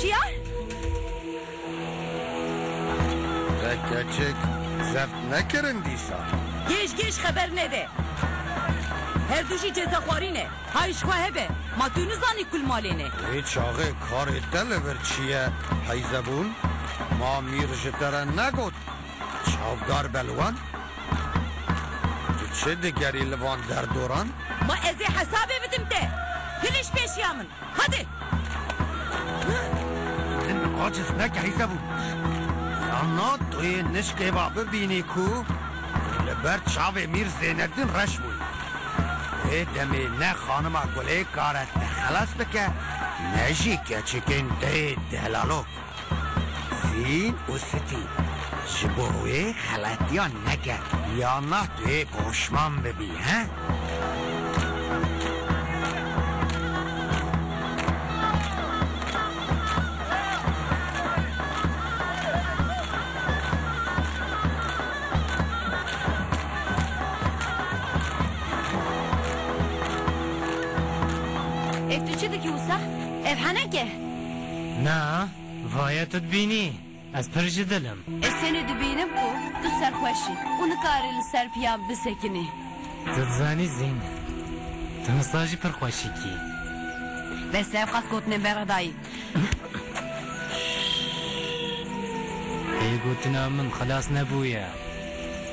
Şiyar! Te keçik zeft nekirin dîsa. Gêj gêj xeber nede. Her du jî cezexwarî ne. Hay ji xwe hebe. Ma tu nizanî kul malê ne. Lê çaxê karê te li vir çi ye heyzebûn? Ma mîr ji te re negot Çavdar Belwan, tu çi digerî li van derdoran? Ma ez ê hesabê bidim te. Hiliş pêşiya min. Hadi! Min bi qaçis neke hîse bû. Yan na tu yê nişkê va bibînî ku li ber çavê Mîr Zênedîn reş bû. Wê demê ne xanima Gulê kare te xelas bike ne jî keçikên te yê delalok. Sîn û Sitî ji bo wê xeletiyan neke ya na tu yê poşman bibî he. Ev tu çi dikî wisa? Ev heneke. Na, vaye tu dibînî, ez pir ji dil im. Ez tenê dibînim ku tu serxweş î û nikarî li ser piyan bisekinî. Tu dizanî Zîn, tu misa jî pir xweşik î. Bes e, ev qas gotinên bere dayî. Vê gotina min xilas nebûye.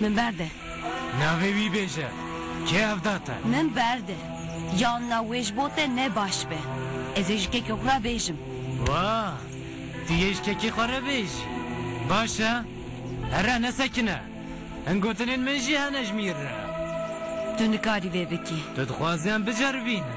Min berde. Navê wî bêje. Kê evda te? Min berde. Yan na wê ji bo te ne baş be. Ez ê ji kekê xwe re bêjim. Wa! Tu yê ji kekê xwe re bêjî. Baş e. Here ne sekine. Hin gotinên min jî hene ji mîr re. Tu nikarî vê bikî. Tu dixwazî em biceribînin.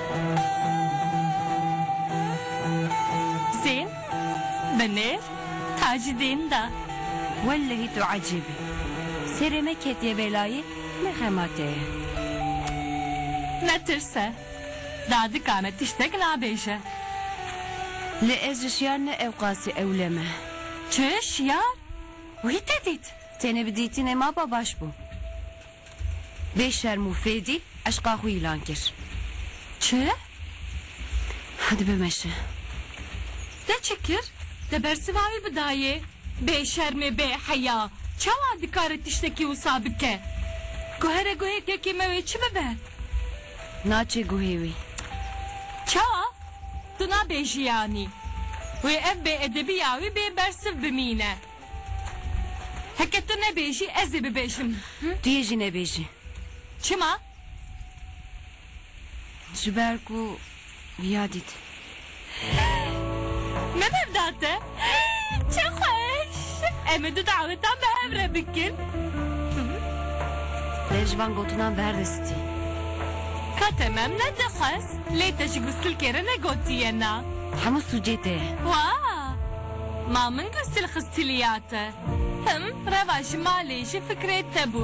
Sîn bi nêr Tacidîn da. Wellehî tu ecîb î. Sêrê me ketiye belayê ne xema te ye. Netirse. Dadika me tiştek nabêje. Lê ez ji şiyar ne ewqasî ewle me. Çi? Şiyar? Wî te dît? Tenê bi dîtînê mapa baş bû. Bê şerm û fêdî eşqa xwe îlan kir. Çi? Hadi bimeşe. Te çi kir? Te bersiva wî bidayê? Bê şermê bê heya, çawa dikare tiştekî wisa bike? Guhere guhê kekê me wê çi bibe? Naçê guhê wî. Çawa? Tu nabêjî yanî? Wê ev bêedebîya wî bê bersiv bimîne. Heke tu nebêjî ez ê bibêjim. Tu yê jî nebêjî. Çima? Ji ber ku ya dît. Me bevda te. Çi xweş. Em ê du dawetan bi hev re bikin. Te ji van gotinan bi her de stî. Ka te me em nedixwest. Lê te ji gustilkê re negotiye na. Hemû sûcê te ye. Wa! Ma min ku stilxistilîya te tim reva ji malê ji fikrê te bû.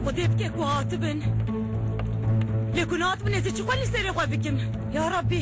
Xwedê bike ku hatibin. Lê ku natibin ez ê çi xwe li serê xwe bikim. Ya Rabbî.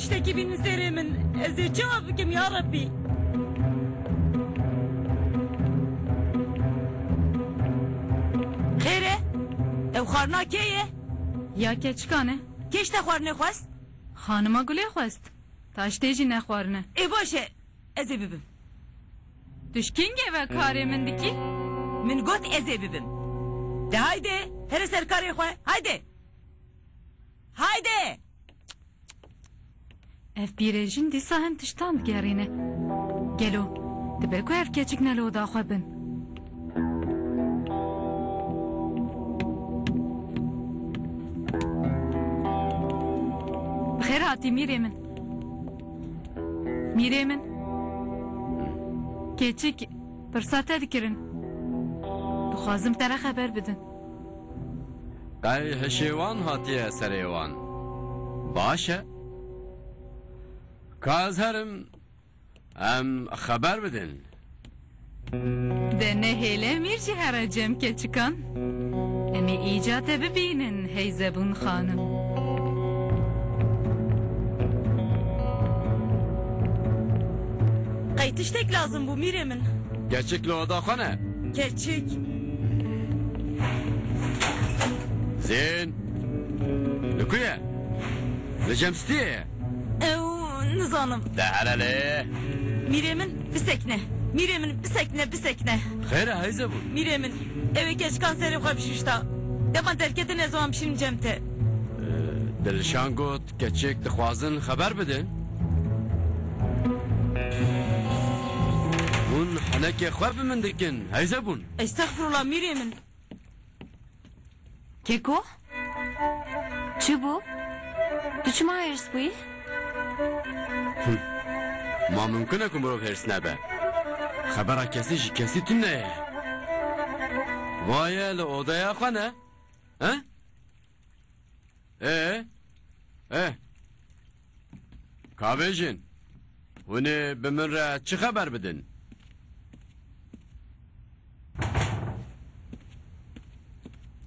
Tiştekî bînin sêrê min ez ê çawa bikim ya Rebbî. Xêr e? Ev xwarina kê ye? Ya keçikan e. Kê ji te xwarinê xwest? Xanima Gulê xwest. Taştê jî ne xwarin e. Ê baş e, ez ê bibim. Tu ji kengê ve karê min dikî? Min got ez ê bibim. De haydi here ser karê xwe, haydi! Haydi! Ev pîrên jin dîsa hin tiştan digerîne. Gelo dibe ku ev keçik ne li oda xwe bin? Bi xêr hatî mîrê min. Mîrê min. Keçik pirsa te dikirin. Dixwazim te re xeber bidim. Qey hişêwan hatiye serê wan? Baş e. Ka ez herim, em xeber bidin. De nehêle mîr jî here cem ke çikan. Em ê îca te bibînin hey Zebûn xanim. Qey tiştek lazim bû mîrê min. Keçik li oda xwe ne. Keçik. Zên, li ku ye? Li Cemstiyê ye. Ew, nizanim. Te here lê? Mîrê min, bisekine. Mîrê min, bisekine, bisekine. Xêr e heyze bûn. Mîrê min, ew ê keçikan serê xwe bişuşta. Dema derketine ez wan bişînim cem te. Dilşan got. Keçik dixwazin xeber bidin. Hûn henekê xwe bi min dikin, heyze bûn. Estexfurullah mîrê min. Keko? Çi bû? Tu çima hêrs bûyî? Ma mimkun e ku mirov hêrs nebe. Xebera kesî ji kesî tune ye. Vaye li odeya xwe ne? He? Ee? Eh. Kavêjin. Hûnê bi min re çi xeber bidin?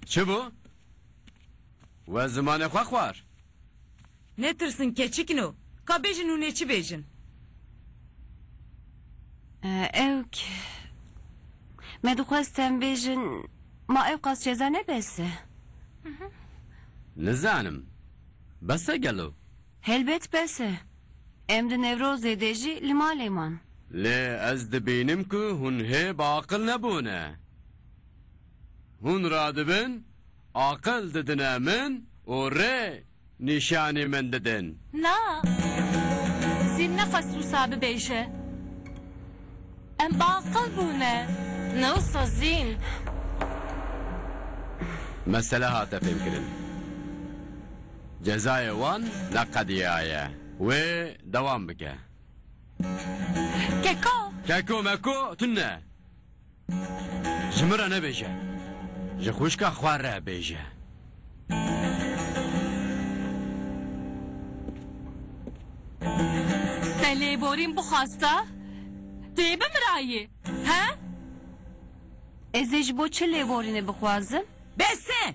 Çi bû? We zimanê xwe xwar. Netirsin keçikn o. Ka bêjin hûn ê çi bêjin? Ew k Me dixwest em bêjin Ma ewqas ceza ne bes e. Nizanim. Bes e gelo? Helbet bes e. Em di Newrozê de jî li malê man. Lê ez dibînim ku hûn hê bi aqil nebûne. Hûn radibin, aqil didine min û rê Nîşanî min didin. Na. Zî nefes wisa bibêje. Em baqil bûne. Na wisa zîn. Mesele hate fêmkirin. Cezayê wan ne qediya ye. Wê dewam bike. Keko. Keko meko tune. Ji min re nebêje. Ji xwişka xwe re bêje. Te lê borîm bixwasta? Dê bimirayî. He? Ez ê ji bo çi lêborînê bixwazim? Bes e!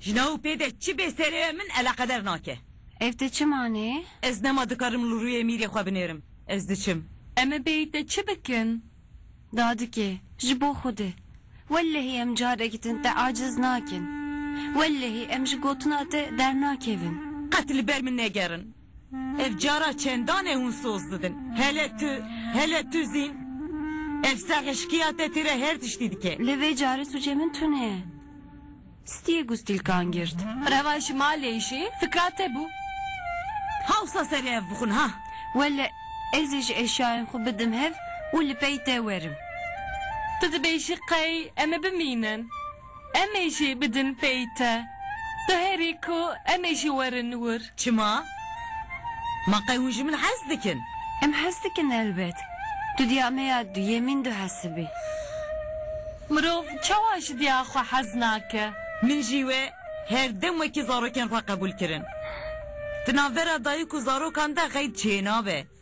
Jina û pê de çi bê serê we min eleqeder nake. Ev de çi manê? Ez nema dikarim li rûyê mîrê xwe binêrim. Ez diçim. Em ê bêyî te çi bikin? Dadikê, ji bo xwedê. Wellehî em carek din te aciz nakin. Wellehî em ji gotina te dernakevin. Qet li ber min negerin. Ev cara çendan e hûn soz didin. Hele tu, hele tu zîn. Ev serhişkiya te têre her tiştî dike. Lê vê carê sûcê min tune ye. Stîyê ku stîlkan girt. Revan ji malê jî fikra te bû. Hewsa serê ev bixwin ha. Wele ez ê ji eşyayên xwe bidim hev û li pey te werim. Tu dibêjî qey em ê bimînin. Em ê jî bidin pey te. Tu herî ku em ê jî werin wir. Çima? Ma qey hûn ji min hez dikin? Em hez dikin helbet. Tu diya me ya duyemîn du hesibî. Mirov çawa ji diya xwe hez nake? Min jî wê her dem wekî zarokên xwe qebûl kirin. Di navbera dayik û zarokan de qeyd çênabe.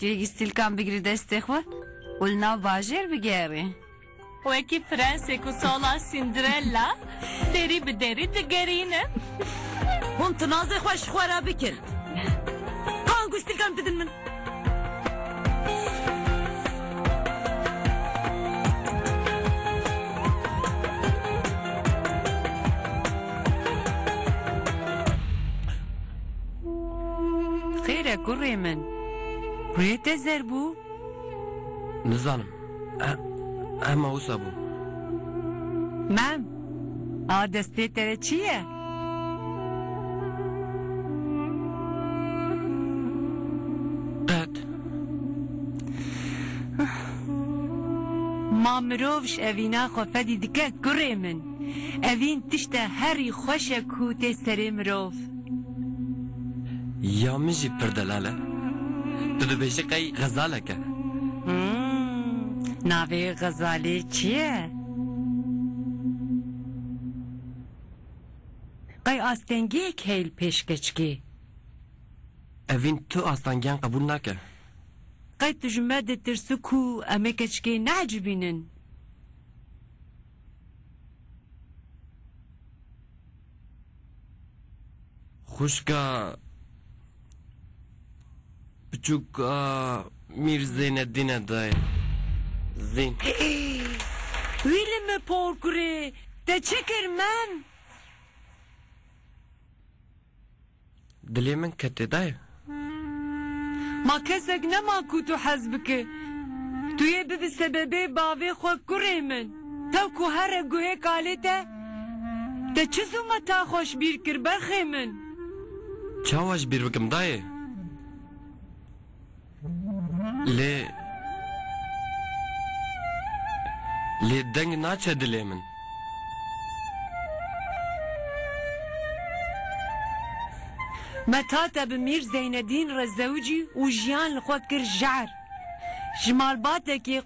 Têgîstîlkan bigirî destê xwe û li nav bajêr bigerî. Wekî prensêk û sala Sîndirella derî bi derî digerînin. Hûn tinazê xwe ji xwe re bikin. Ka angûstîlkan bidin min. Xêr e kurê min. Rûyê te zer bû? Nizanim. Hema wisa bû. Mem, a destê te de çi ye? Qet. Ma mirov ji evîna xwe fedî dike kurê min. Evîn tişte herî xweş e ku tê serê mirov. Ya min jî pir delal e. Tu dibêjî qey xezalek e. Hum, navê xezalê çi ye? Qey astengiyek heye li pêşkeçkê. Evîn tu astangiyan qebûl nake. Qey tu ji me ditirsi ku em ê keçikê neecibînin. Xuşka biçûka Mîr Zeynedîn e dayê. Zîn. Wîlî mi por kurê, te çi kir min? Dilê min ketê dayê. Ma kesek nema ku tu hez bike. Tu yê bibî sebebê bavê xwe kurê min. Te ku here guhê kalê te te çi zûmeta xwe ji bîr kir berxê min. Çawa ji bîr bikim dayê? Lê lê deng naçe dilê min. Me tate bi Mîr Zeynedîn re zewicî û jiyan li xwe kir jar. Ji malbatekî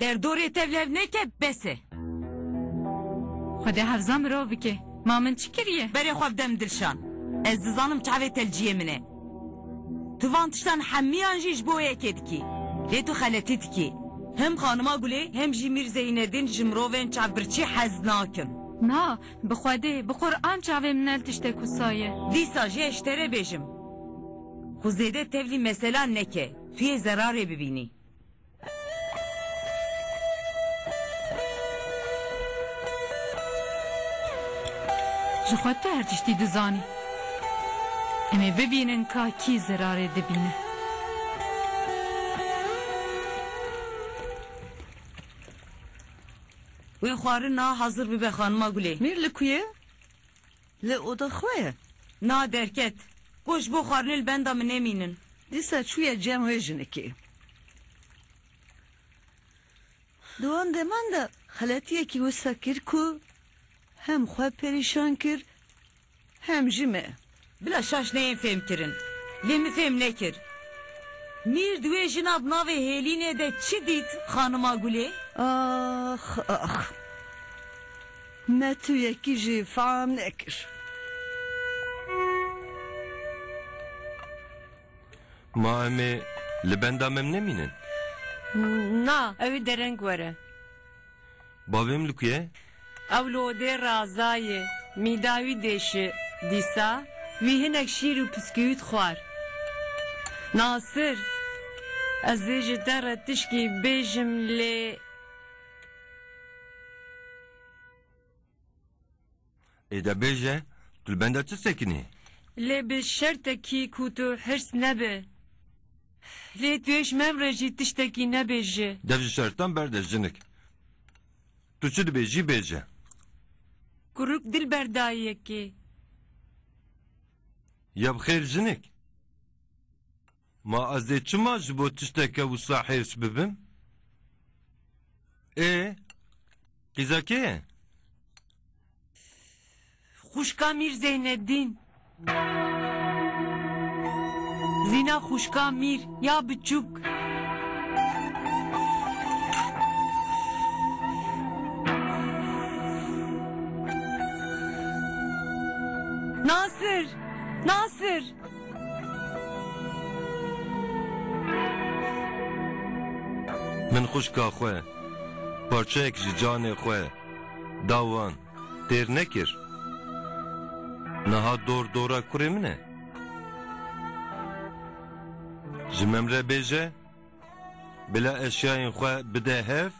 Derdorê tevlev neke bes e. Xwedê hevza mirov bike. Ma min çi kiriye? Berê xwe bide min Dilşan. Ez dizanim çavê telciyê min e. Tu van tiştan hemiyan jî ji bo yekê dikî. Lê tu xeletî dikî. Hem Xanima Gulê hem jî Mîr Zeynedîn ji mirovên çavbirçî hez nakin. Na, bi Xwedê, bi Quran çavê min nel tiştek wisa ye. Dîsa jî ez ji te re bêjim. Xwe zêde tevlî mesela neke. Tu yê zerarê bibînî. Ji xwe tu her tiştî dizanî. Em ê bibînin ka kî zerarê dibîne. Wê xwarina hezir bibe xanima Gulê. Mîr li ku ye? Li oda xwe ye. Na derket. Got ji bo xwarinê li benda min nemînin. Dîsa çûye cem wê jinikê. Di wan deman de xeletiyekî wisa kir ku hem xwe perîşan kir hem jî me. Bila şaş neyên fêmkirin. Lê min fêm nekir. Mîr di wê jina bi navê Hêlînê de çi dît, xanima Gulê? Ax ax. Me tu yekî jî fa nekir. Ma em ê li benda mem nemînin? Na, ew ê dereng were. Bavêm li ku ye? Ew li odê Raza ye. Mîda wî dêşi. Dîsa wî hinek şîr û piskûwît xwar. Nasir, ez ê ji te re tişkî bêjim lê. Ê de bêje, tu li benda çi sekinî? Lê bi şertekî ku tu hirs nebe. Lê tu yê ji me re jî tiştekî nebêje. Dev ji şertan berde jinik. Tu çi dibêjî bêje. Kuruk dil ber dayikê. Ya bi xêr jinik. Ma ez ê çima ji bo tişteke wisa hêrs bibim? Ê, qîza kê ye? Xwişka Mîr Zeyneddîn. Zîna xwişka Mîr ya biçûk. Nasir! Nasir! Min xwişka xwe parçeyek ji canê xwe da wan têr nekir. Niha dor dora kurê min e. Ji min re bêje bila eşyayên xwe bide hev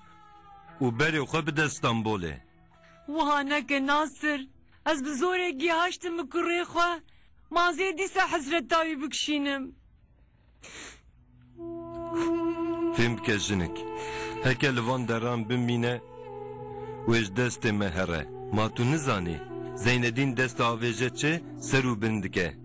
û berê xwe bide Stenbolê. Wiha neke Nasir, ez bi zorê gîhaştim bi kurê xwe, ma zê dîsa hesreta wî bikişînim. Fêm bike jinik, heke li van deran bimîne, wê ji destê me here. Ma tu nizanî, Zeynedîn dest diavêje çi, ser û bin dike.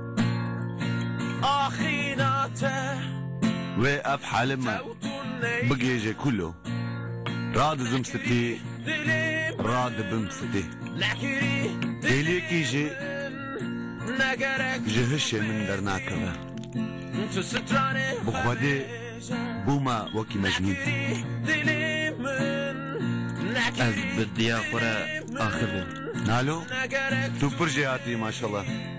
Axîna te Wê ev halê min tewtun ney bigihêje kulo Radizim sitî, Dilê min radibim sitî nekirî Dêliyekî jî Ne gerek ji hişê min dernakeve Tu stranê Bi xwedê xwedêje bûme wekî mecnûn Nekirî dilê min Nekirî Ez bi diya xwe re axivim. Nalo Ne gerek tu pir jêhatî maşallah.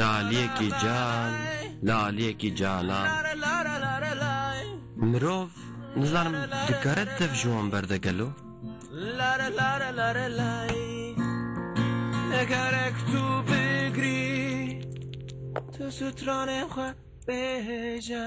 Laliyekî cal, laliyekî calan. Mirov nizanim dikare tev ji wan berde gelo? Gerek tu bigrî tu stranên xwe bêje.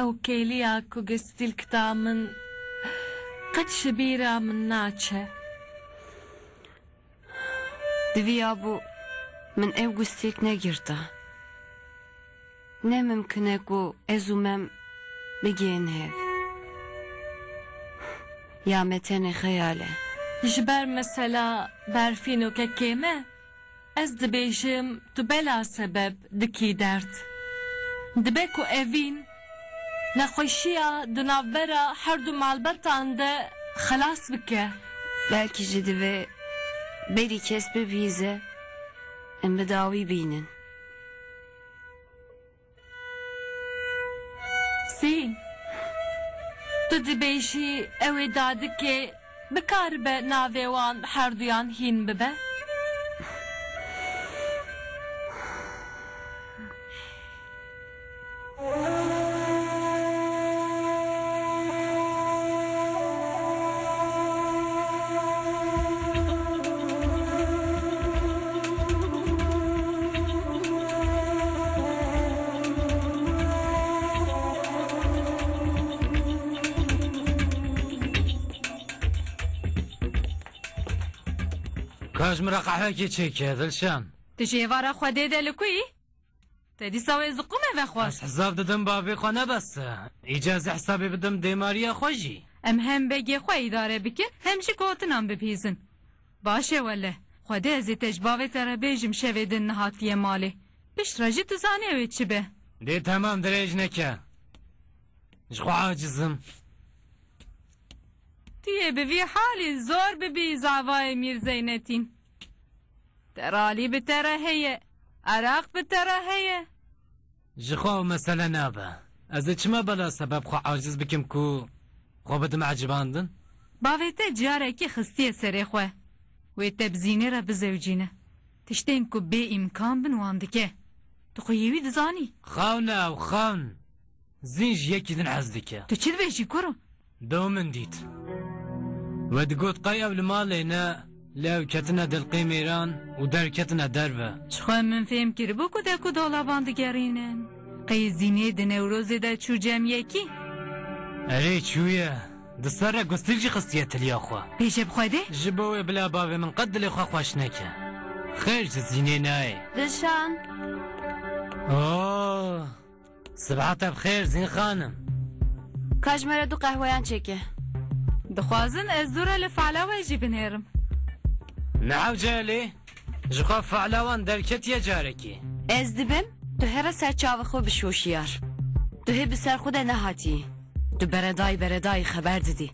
Ew kêliya ku gestîlk da min qet ji bîra min naçe. Diviyabû min ew gustîlk negirta. Ne mimkin e ku ez û mem bigihên hev. Ya me tenê xeyal e. Ji ber mesela berfînokekê me. Ez dibêjim tu bela sebeb dikî derd. Dibe ku evîn nexweşiya di navbera herdu malbetan de xelas bike. Belkî jî divê berî kes bibihîze em bi dawî bînin. Sî, Tu dibêjî ew ê dadikê bikaribe navê wan herduyan hîn bibe? Kaş min re qehwekê çêke Dilşan. Ti ji êvara Xwedê de li ku yî? Te dîsa wê ziqûme vexwar. Ez hesab didim bavê xwe nebese. Îcar ez ê hesabê bidim dêmariya xwe jî. Em hem begê xwe îdare bikin hem jî gotinan bibihîzin. Baş e wele. Xwedê ez ê te ji bavê te re bêjim şevê din nehatiye malê. Pişt re jî tu zanî ew ê çi be. Dê temam dirêj neke. Ji xwe aciz im. Tu yê bi vî halî zor bibî zavayê Mîr Zeynetîn. Teralî bi te re heye. Eraq bi te re heye. Ji xwe ew mesele nabe. Ez ê çima bela sebeb xwe aciz bikim ku xwe bidim ecibandin? Bavê te carekê xistiye serê xwe. Wê tebzînê re bizewcîne. Tiştên ku bê îmkan bin wan dike. Tu xwe yê wî dizanî. Xewna ew xewn. Zîn ji yekî din hez dike. Tu çi dibêjî kuro? Do min dît. We digot qey ew li malê ne, lê ew ketine dilqê mêran û derketine derve. Ji xwe min fêm kiribû ku dek û dalavan digerînin. Qey Zînê di Newrozê de çû cem yekî. Erê çûye. Di ser re gustil jî xistiye tiliya xwe. Pêşe bi xwe de. Ji bo wê bila bavê min qet dilê xwe xweş neke. Xêr ji Zînê nayê. Dilşan! Oh! Sibeha te bi xêr Zîn xanim. Ka ji me re du qehweyan çêke. Dixwazin ez dû re li fiala we jî binêrim. Nehewce Elî, ji xwe fiala wan derketiye carekî. Ez dibim tu hê re ser çavê xwe bişî hoşiyar. Tu hê bi ser xwe de nehatiyî. Tu beredayî beredayî xeber didî.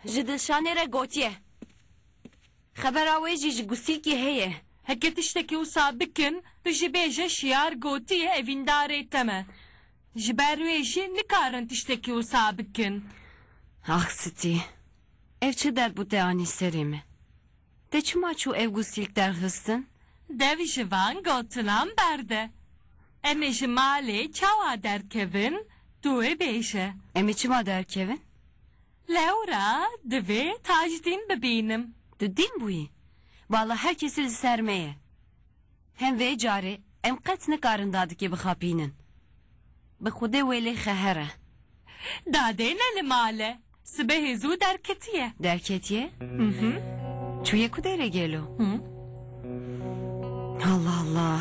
Ji dilşanê re gotiye. Xebera wê jî ji Gusîkê heye. Heke tiştekî wisa bikin, tu jî bêje Şiyar gotiye evîndarê te me. Ji ber wê jî nikarin tiştekî wisa bikin. Ax sitî. Ev çi dert bû te anî serê me. Te çima çû ev gûstîlk derxistin? Dev ji van gotinan berde. Em ê ji malê çawa derkevin tu ê bêje. Em ê çima derkevin? Lewra divê Tajdîn bibînim. Tu dîn bûyî? Bala her kesî li ser me ye. Hem vê carê em qet nikarin dadikê bixapînin. Bi xwedê wê lê xeher e. Dadê ne li mal e. Sibehê zû derketiye. Derketiye? Çûye ku derê gelo? Allah Allah.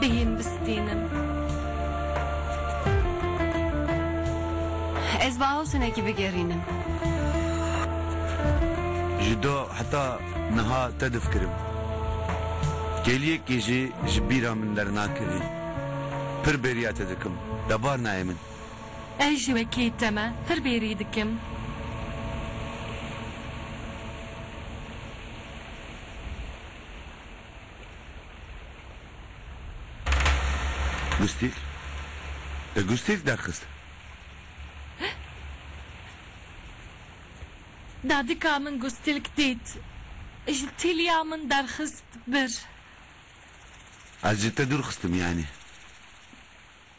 bihîn bistînim. Ez bi awsenekî bigerînim. Ji do heta niha te difikirim. Kêliyekî jî ji bîra min dernakevî. Pir bêriya te dikim. Debar nayê min. Ez jî wekî te me pir bêrî dikim. Gustîl e gustîl derxist. Dadika min gustilk dît ji tîliya min derxist bir. Ez ji te dûr xistim yanî.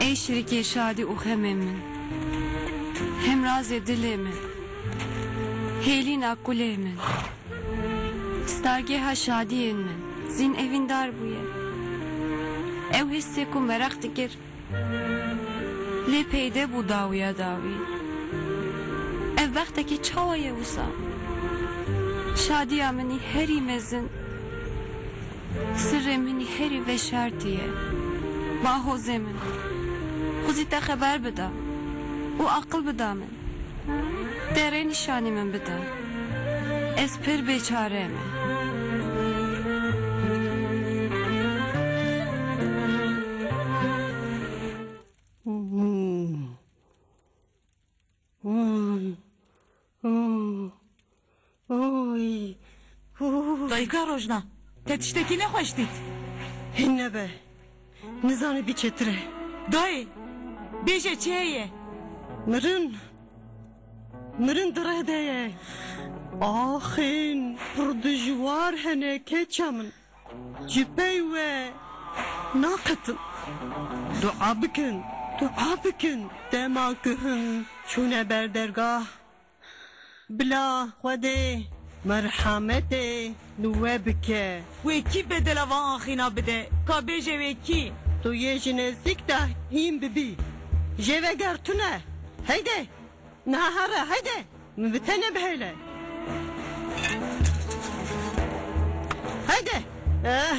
Ey şirîkê şadî û xemê min, hemrazê dilê min, hêlîna kulê min, stargêha şadiyên min. Zîn evîndar bûye. Ew hissê ku meraq dikir. Lê peyde bû dawiya dawî. Ev bextekî çawa ye wisa? Şadiya minî herî mezin, sirrê minî herî veşartî ye. Bahozê min, xwezî te xeber bida û aqil bida min. Te rê nîşanî min bide. Ez pir bêçare me. Oy! Oy! Dayika Rojna, te tiştekî nexweş dît? Hin nebe. Nizane bî çêtir e. Dayê! Bêje çi heye? Mirin! Mirin di reh de ye. Axin! Pir dijwar hene keça min. Ji pey we naqetim. Dua bikin, dua bikin. Dema guhim çûne ber dergah. Bila Xwedê merhametê li we bike. Wê kî bedela van axîna bide? Ka bêje wê kî? Tu yê ji nêzîk de hîn bibî. Jê veger tune. Heyde! Niha here, heyde! Min bi te nebihêle. Heyde! Eh!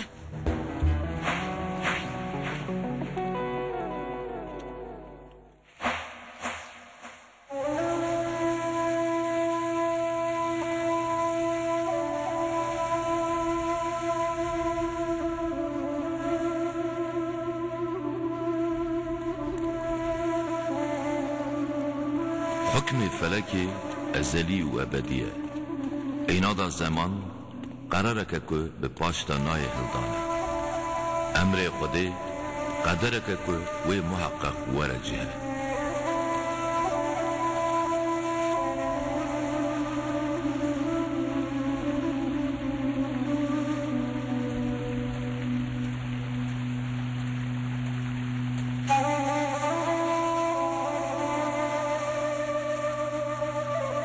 Hukmê felekê ezelî û ebedî ye. Eyna da zeman, qerareke ku bi paşta nayê hildan e. Emrê Xwedê qedereke ku wê muheqeq were cihê.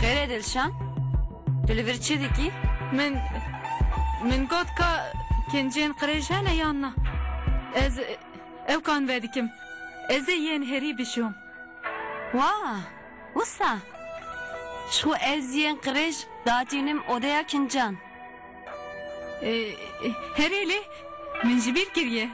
Xêre Dilşan, tu li vir çi dikî? Min min got ka kincên qirêj hene yan na. Ez ew kan vedikim. Ez ê yên herî bişom. Wa, wisa? Ji xwe ez yên qirêj datînim odeya kincan. Herê lê min ji bîr kiriye.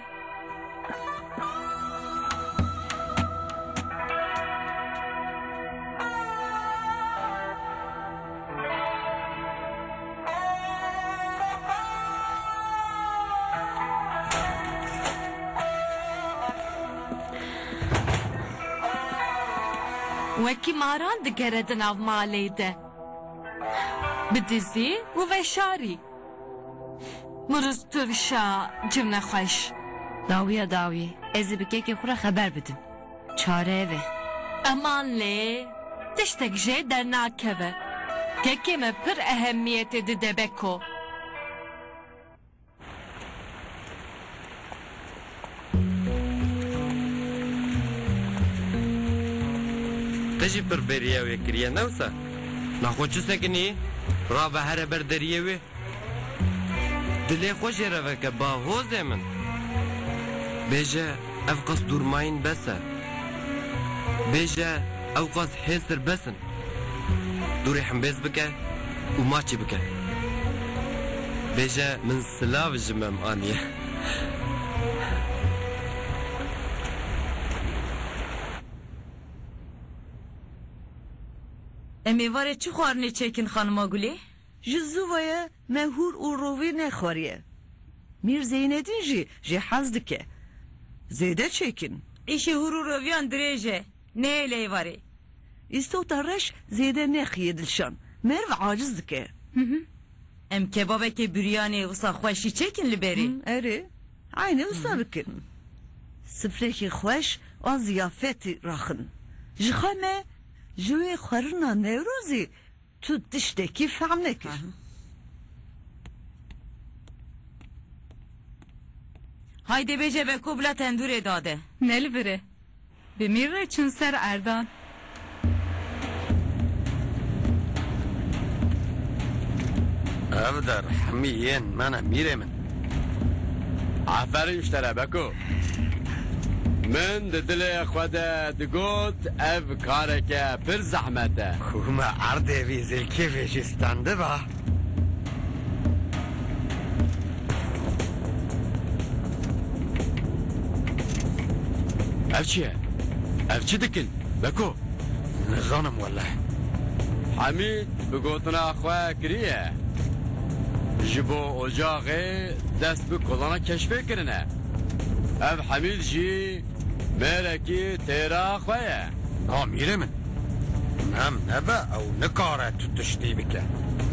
Wekî maran digere di nav malê de. Bi dizî û veşarî. Muruz tu vişa cim nexweş. Dawiya dawî ez ê bi kekê xwe re xeber bidim. Çare ev e. Eman lê tiştek jê dernakeve. Kekê me pir ehemiyetê dide Beko. Te jî pir bêriya wê kiriye ne wisa? Na xwe çi sekinî? Rabe here ber deriyê wê. Dilê xwe jê re veke ba hozê min. Bêje. Ev qas dûrmayîn bes e. Bêje ew qas hêztir bes in. Dûrê himbêz bike û maçî bike. Bêje min silav ji me em aniye. Em êvarê çi xwarinê çêkin xanima Gulê? Ji zû ve ye. Me hûr û rovî nexweriye. Mîr Zeynedîn jî jê hez dike. Zêde çêkin. Îşê hûr û roviyan dirêj e. Neyê ley varê. Îstota reş zêde nexiye dilşan. Merv aciz dike. Em kebabekê biryanê wisa xweş jî çêkin li berê. Erê. Eynê wisa bikin. Sifrekî xweş a ziyafetî raxin. Ji xwe me ji wê xwerina Newrozî. Tu tiştekî fehm nekir. Haydê bêje beko bila tendûrê dade. Nelvire. Bi mîr re çûn ser erdan. Ev der hemî yên men e mîrê min. Aferîn ji te re Beko. Min di dilê xwe de digot ev kareke pir zehmet e. Ku me erdê vî zilkî vê jî standiba. Ev çi ye? Ev çi dikin Beko? Nizanim wele. Hemîd bi gotina xwe kiriye ji bo. Ocaxê dest bi kolana keşfê kirin e. Ev Hemîd jî mêrekî têra xwe ye. Na mîrê min. Mem nebe ew nikare tu tiştî bike.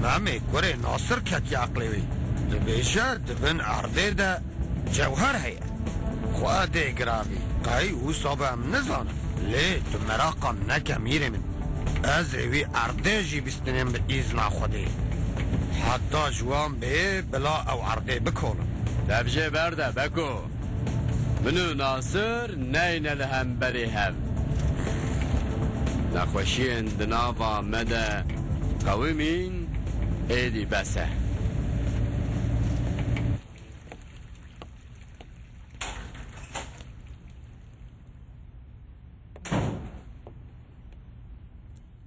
Memê kurê Nasir ketiye eqlê wî. Dibêje di bin erdê de cewher heye. Xwe dê giravî. Qey wisa be em nizanin. Lê tu meraqa neke mîrê min. Ez ê wî erdê jî Em bi îzna Xwedê heta ji wan bê bila ew erdê bikolin. Tevjê berde Beko. Min û Nasir neyne li hemberî hev. Nexweşiyên di nava me de qewimîn êdî bes e.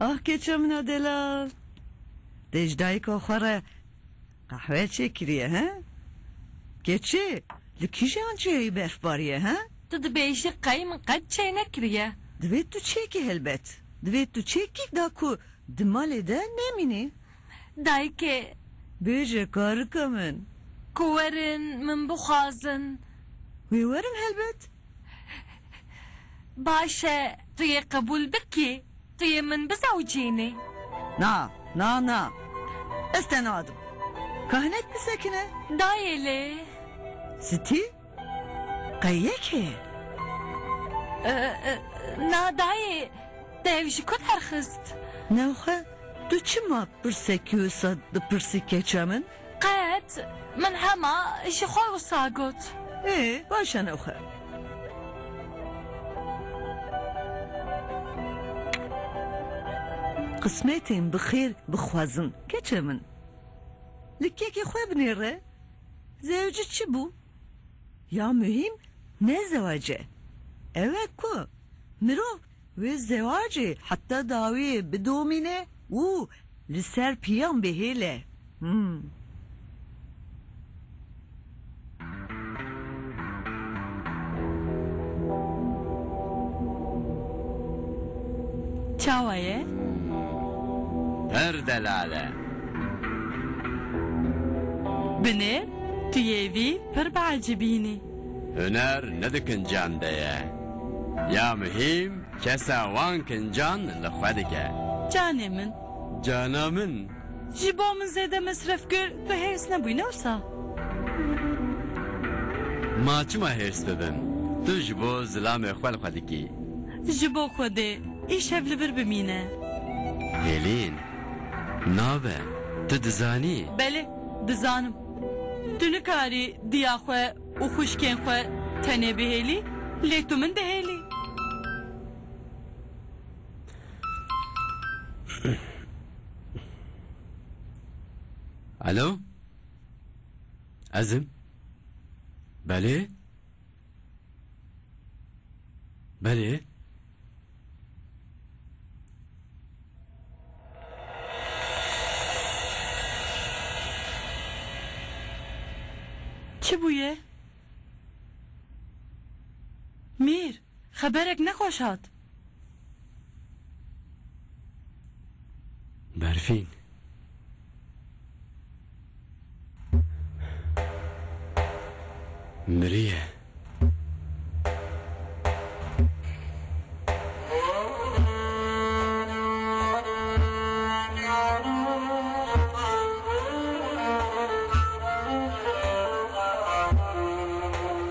Ah keça min a delal. Dê ji dayika xwe re qehwe çêkiriye he? Keçê, li kîjan çêyî berfbariye he? Tu dibêjî qey min qet çêy nekiriye. Divê tu çêkî helbet. Divê tu çêkîk da ku di malê de nemînî. Dayikê. Bêje karika min. Ku werin min bixwazin. Wê werim helbet. Baş e, tu yê qebûl bikî. Tu yê min bizewcînî. Na, na, na. Ez te nadim. Ka hinek bisekine. Dayê lê. Sitî? Qey yê kê? Na dayê, te ew ji ku derxist? Nav xwe, tu çima pirsek wisa dipirsî keça min? Qet, min hema ji xwe wisa got. Ê, baş e nav xwe. Qismêtên bi xêr bixwazin keça min. Li kekê xwe binêre. Zewci çi bû? Ya muhîm ne zewac e. Ew e ku mirov wê zewacê heta dawî bidomîne û li ser piyan bihêle. Him. Çawa ye? Pir delal e. Binê, tu yê vî pir biecibînî. Huner ne di kincan de ye. Ya muhîm kesa wan kincan li xwe dike. Canê min. Cana min. Ji bo min zêde mesref kir, tu hêrs nebûyî ne wisa? Ma çima hêrs bibim? Tu ji bo zilamê xwe li xwe dikî. Ji bo Xwedê, îşev li vir bimîne. Hêlîn, nabe, tu dizanî. Belê, dizanim. Tu nikarî diya xwe û xwişkên xwe tenê bihêlî, lê tu min dihêlî. Alo? Ezim? Belê? Belê? Çi bûye? Mîr! Xeberek ne xweş hat. Berfîn. Miriye.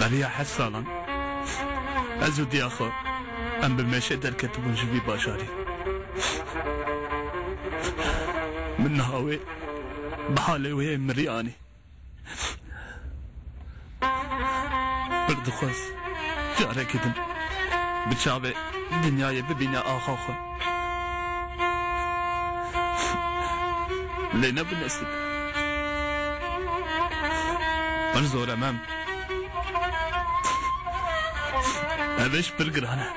Beriya heft salan ez û diya xwe em bi meşê derketibûn ji vî bajarî. Min niha wê bi halê wê yê mirî anî. Pir dixwest carekî din bi çavê dinyayê bibîne axa xwe. Lê ne bi nesîb. Pir zor e mem. Ev îş pir giran e.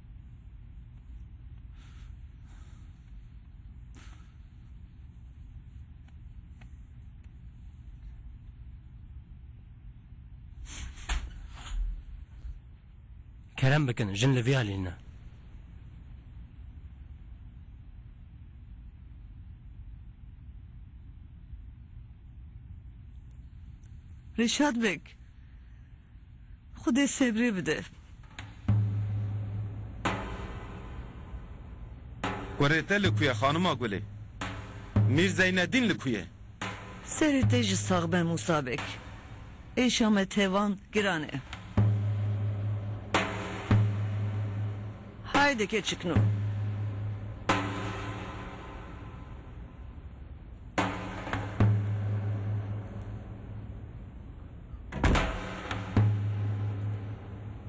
Kerem bikin jin li vê alî ne. Rişad bik. Xwedê sebrê bide. Kurê te li ku ye xanima Gulê? Mîr Zeynedîn li ku ye? Serê te ji sax be Mûsa Beg. Êşa me tevan giran e. Hayde keçikno.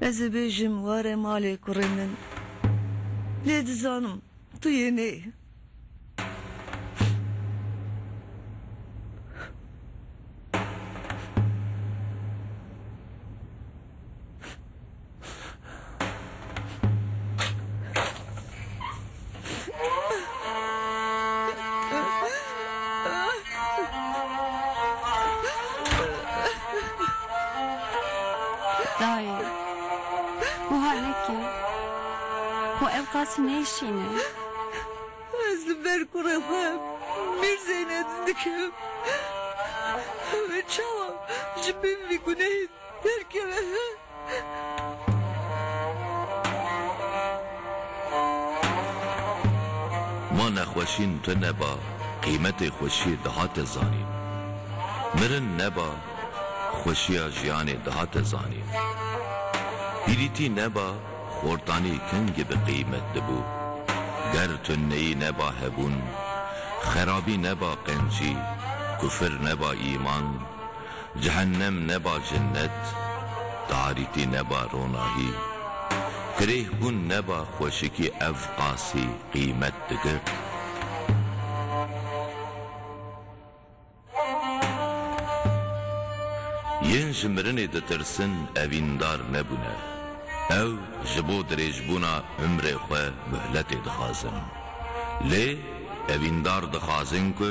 Ez ê bêjim ware malê kurê min lê dizanim tu yê nê. Dayê, wiha neke. Xwe ev qasî nêşîne. Ez li ber kurê xwe Mîrzeyne didikim. Ew ê çawa ji bin vî gunehê derkeve? Ma nexweşîn tune ba qîmetê xweşiyê dihate zanîn. Mirin neba xweşiya jiyanê dihate zanîn. Pîrîtî neba xortanî kengî bi qîmet dibû. Ger tuneyî neba hebûn, xerabî neba qencî, kufir neba îman, Cehennem neba cennet, tarîtî neba ronahî, Firehbûn neba xweşikî ev qasî qîmet digir. Yên ji mirinê ditirsin evîndar nebûne, ew ji bo dirêjbûna umrê xwe muhletê dixwazin. Lê evîndar dixwazin ku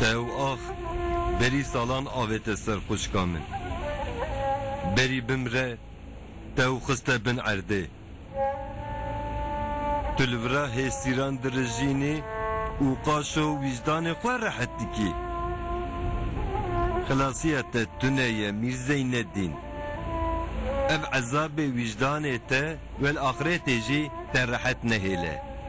Tew ax, berî salan avê te ser xwişka min. Berî bimre, tew xiste bin erdê. Tu li vira hêsîran dirijînî û qaşo wîjdanê xwe rehet dikî. Xilasiya te tune ye Mîr Zeynedîn. Ev ezabê wîjdanê te wel axretê jî te rehet nehêle.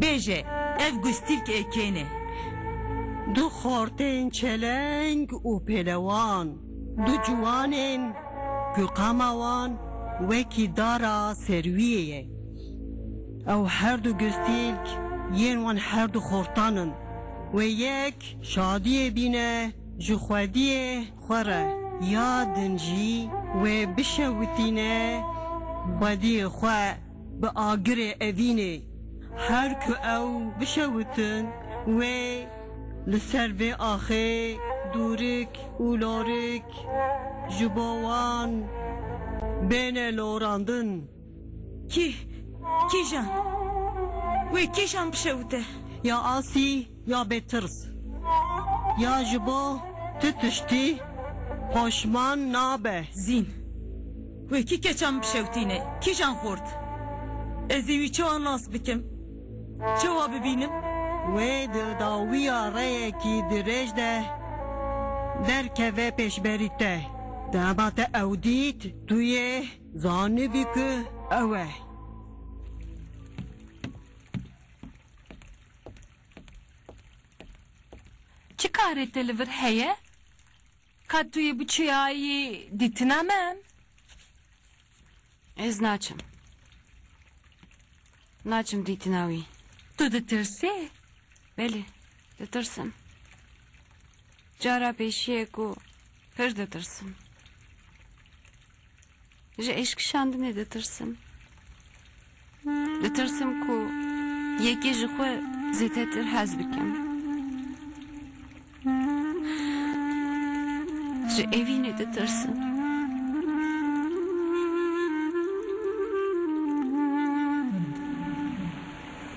Bêje, ev gustîlk ê kên e. Du xortên çeleng û pêlewan, du ciwanên ku qama wan wekî dara serwiyê ye. Ew her du gustîlk yên wan her du xortan in. Wê yek şadiyê bîne ji xwediyê xwe re ya din jî wê bişewitîne xwediyê xwe. Bi agirê evînê her ku ew bişewitin wê li ser vê axê dûrik û lorik ji bo wan bêne lorandin. Kî kîjan? Wê kîjan bişewite? Ya Asî Ya bêtirs ya ji bo tu tiştî poşman nabe. Zîn. Wê kî keça min bişewtîne? Kîjan xort? Ez ê wî çawa nas bikim? Çawa bibînim? Wê di dawiya reyekî dirêj de derkeve pêşberî te. Dema te ew dît, tu yê zanibî ku ew e. Çi karê te li vir heye? Ka tu yê biçiyayî dîtina min? Ez naçim. Naçim dîtina wî. Tu ditirsî? Belê, ditirsim. Cara pêşiyê ku pir ditirsim. Ji êşkişandinê ditirsim. Ditirsim ku yekê ji xwe zêdetir hez bikim. Ji evînê ditirsim.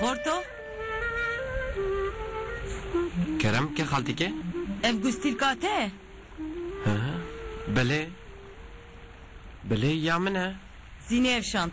Xorto? Kerem ke xaltike? Ev gustîlka te ye? He, belê. Belê ya min e. Zînê ev şand.